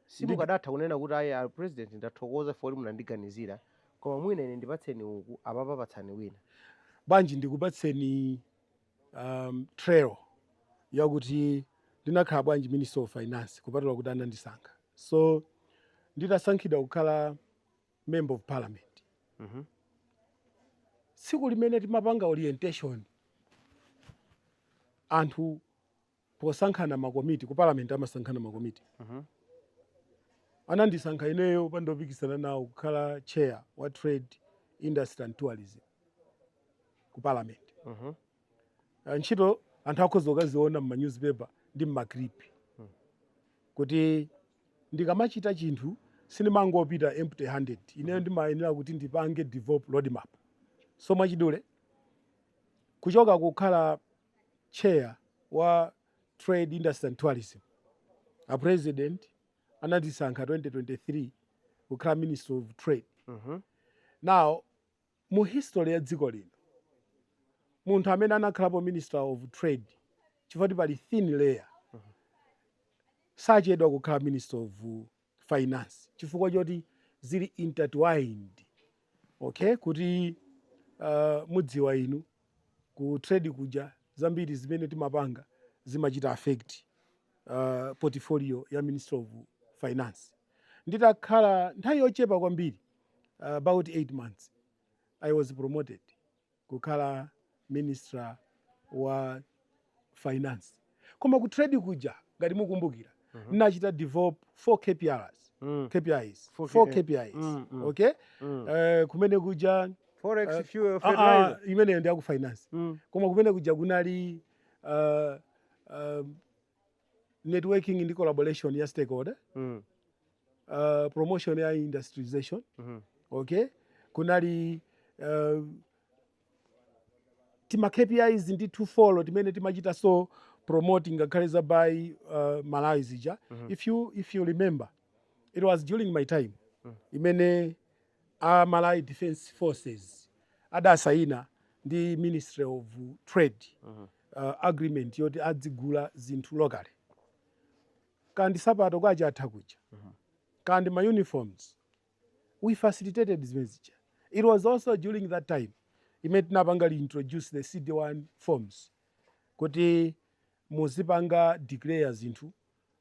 Simukadatha kunena kuti ayi a president ndathokoza chifukwa kuti munandiganizira koma mwina ine ndipatseni uku apapa patsani wina. Bwanji ndikupatseni um, trail yakuti ndinakhala bwanji Minister of Finance kupatula kuti anandisankha. So nditasankhidwa kukhala Member of Parliament. Mm -hmm. Tsiku limene timapanga orientation anthu posankhana makomiti ku parliament amasankhana makomiti Mhm. anandisankha ineyo opanda opikisana nawo kukhala chair wa trade industry and tourism ku parliament Mhm. Ah, ntchito anthu akhoza kukaziona m'ma newspaper ndi m'ma clip kuti ndikamachita chinthu sindimangopita empty handed ineyo ndimayenera kuti ndipange develop roadmap so mwachidule kuchoka kukhala chair wa Trade Industry and Tourism. A president anandisankha 2023 kukhala Minister of Trade. Mhm. Now, mu history ya dziko lino, munthu amene anakhalapo Minister of Trade, chifukwa pali thin layer, sachedwa kukhala Minister of finance chifukwa choti zili intertwined okay kuti uh, mudziwa inu ku trade kuja zambiri zimene timapanga zimachita affect uh, portfolio ya minister of finance nditakhala nthawi yochepa kwambiri uh, about 8 months i was promoted kukhala minister wa finance koma ku trade kuja ngati mukumbukira mm -hmm. nachita develop four kprs mm. kpis four, four kpis mm, mm. okay mm. Uh, kumene kuja forex uh, fuel ah, ah, fertilizer uh, uh, imeneyo ndi aku finance mm. koma kumene kuja kunali uh, uh, networking ndi collaboration ya stakeholder mm. uh, promotion ya industrialization mm -hmm. okay kunali uh, tima KPIs ndi ti four timene timachita so promoting ngakhale za Buy uh, Malawi zija mm -hmm. if you if you remember it was during my time mm -hmm. imene a Malawi Defense Forces adasayina ndi Ministry of Trade mm -hmm. uh, agreement yoti adzigula zinthu locally kaya ndi nsapato kwacha atha kuja uh -huh. kaya ndi ma uniforms we facilitated zimene zija it was also during that time imene tinapanga introduce the cd1 forms kuti muzipanga declare zinthu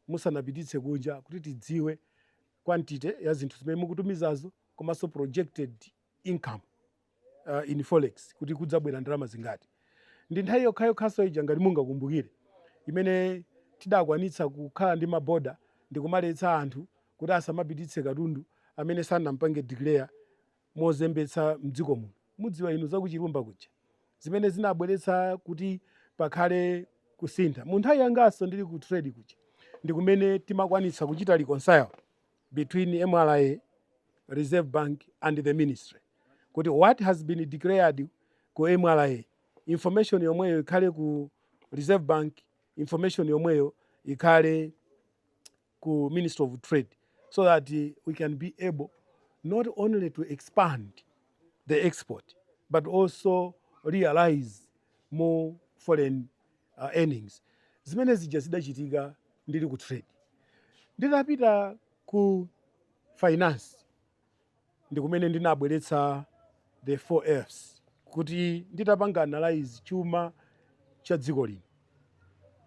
musanapititse kunja kuti tidziwe quantity ya zinthu zimene mukutumizazo komanso projected income uh, in forex kuti kudzabwera ndalama zingati ndi nthawi yokhayokhanso ija ngati mungakumbukire imene tidakwanitsa kukhala ndi maboda ndi kumaletsa anthu kuti asamapititse katundu amene sanampange declare mozembetsa mdziko muno mudziwa inu zakuchilumba kuja zimene zinabweretsa kuti pakhale kusintha mu nthawi yanganso ndili ku trade kuja ndi kumene timakwanitsa kuchita reconcile between mra, Reserve Bank and the Ministry kuti what has been declared ku mra information yomweyo ikhale ku Reserve Bank, information yomweyo ikhale ku Ministry of Trade so that we can be able not only to expand the export but also realize more foreign a earnings zimene zija zidachitika ndili ku trade nditapita ku finance ndikumene ndinabweretsa the 4 F's kuti nditapanga analyze chuma cha dziko lino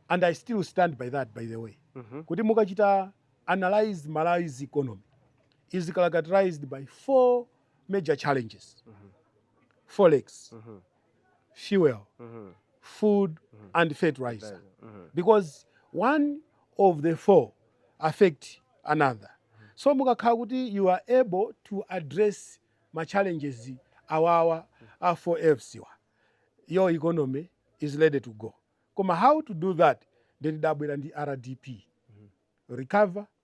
and I still stand by that by the way Mhm. kuti mukachita analyze Malawi's economy is characterized by four major challenges Mhm. forex Mhm. fuel, food and fertilizer because one of the four affect another. So mukakhala kuti you are able to address ma challenges awawa a 4Fs wa your economy is ready to go. Koma how to do that? Then dabwera ndi RDP. Recover,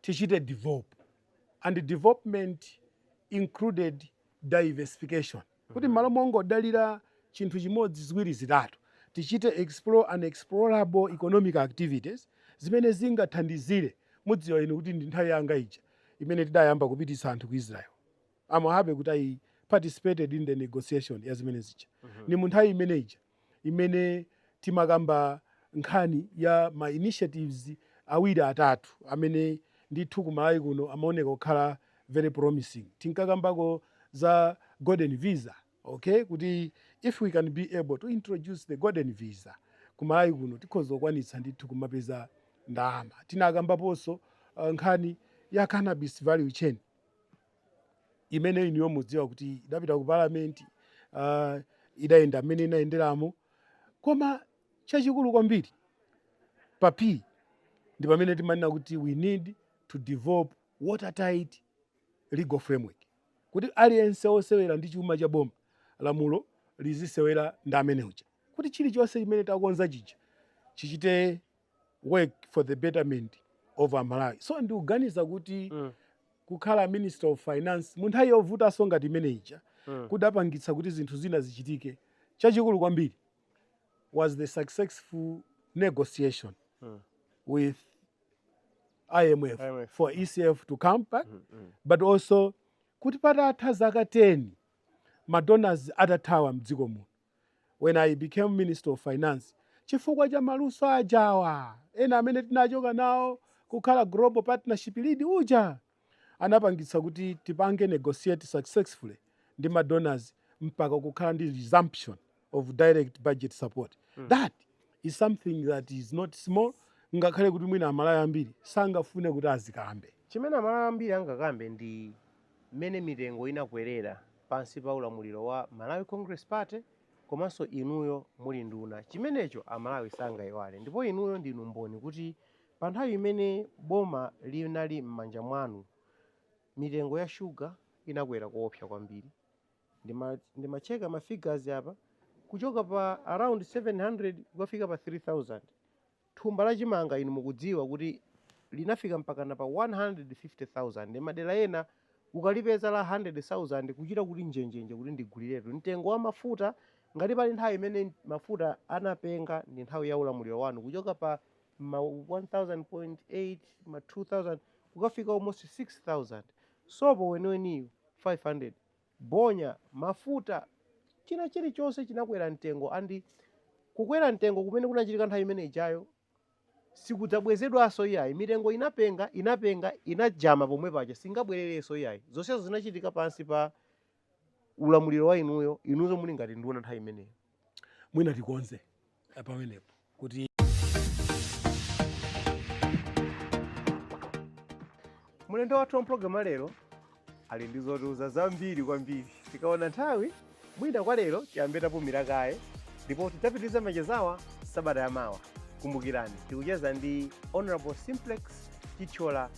tichite develop and development included diversification kuti mmalo mongodalira chinthu chimodzi ziwiri zitatu tichite explore explorable economic activities zimene zingathandizire mudziwa inu kuti ndi nthawi yanga ija imene tidayamba kupititsa anthu ku israel I'm happy kuti i participated in the negotiation ya zimene zija ndi mu nthawi imene ija imene timakamba nkhani ya ma initiatives awiri atatu amene ndithu ku Malawi kuno amaoneka kukhala very promising. Tinkakambako za golden visa, okay, kuti if we can be able to introduce the golden visa ku Malawi kuno tikhoza kukwanitsa ndithu kumapeza ndalama. Tinakambaponso nkhani ya cannabis value chain. imene inuyo mudziwa kuti idapita ku parliament uh, idayenda mmene inayenderamo koma chachikulu kwambiri pa p ndi pamene timanena kuti we need to develop watertight legal framework kuti aliyense osewera ndi chuma cha boma lamulo lizisewera ndi amene uja kuti chilichonse chimene takonza chija chichite work for the betterment of amalawi so ndikuganiza kuti mm. kukhala minister of finance mu nthawi yovutanso ngati imene ija mm. kudapangitsa kuti zinthu zina zichitike chachikulu kwambiri was the successful negotiation mm. with IMF, IMF for ECF to come back mm -hmm. but also kuti patatha zaka 10 madonors atathawa mdziko muno when I became minister of finance chifukwa cha maluso aja awa ena amene tinachoka nawo kukhala global partnership lead uja anapangitsa kuti tipange negotiate successfully ndi ma donors mpaka kukhala ndi resumption of direct budget support that is something that is not small ngakhale kuti mwina amalawi ambiri sangafune kuti azikambe Chimene amalawi ambiri angakambe ndi mmene mitengo inakwerera pansi pa ulamuliro wa Malawi Congress Party komanso inuyo muli nduna chimenecho a Malawi sangaiwale ndipo inuyo ndinu mboni kuti pa nthawi imene boma linali mmanja mwanu mitengo ya sugar inakwera koopsa kwambiri ndimacheka ma figures apa kuchoka pa around 700 kukafika pa 3000 Thumba la chimanga, inu mukudziwa, kuti linafika mpakana pa 150,000. Madera ena ukalipeza la handiredi sauzande kuchita kuti njenjenje kuti ndiguliretu. Mtengo wa mafuta, ngati pali nthawi imene mafuta anapenga ndi nthawi ya ulamuliro wanu, kuchoka pa ma 1000.8 ma 2000 kukafika almost 6000. Sopo weniweniyo 500. bonya, mafuta, china chilichonse chinakwera mtengo and kukwera mtengo kumene kunachitika nthawi imene ijayo sikudzabwezedwanso iyayi, mitengo inapenga, inapenga, inajama pomwe paja singabwererenso iyayi, zonsezo zinachitika pansi pa ulamuliro wa inuyo, inuyo muli ngati nduna nthawi imeneyo. mwina tikonze eh, pamenepo kuti mlendo wathu wa mpulogalamu ya lero ali ndi zotiuza zambiri kwambiri tikaona nthawi mwina kwa lero tiyambe tapumira kaye ndipo tidzapitiriza machezawa sabata yamawa kumbukirani tikucheza ndi honorable simplex chithyola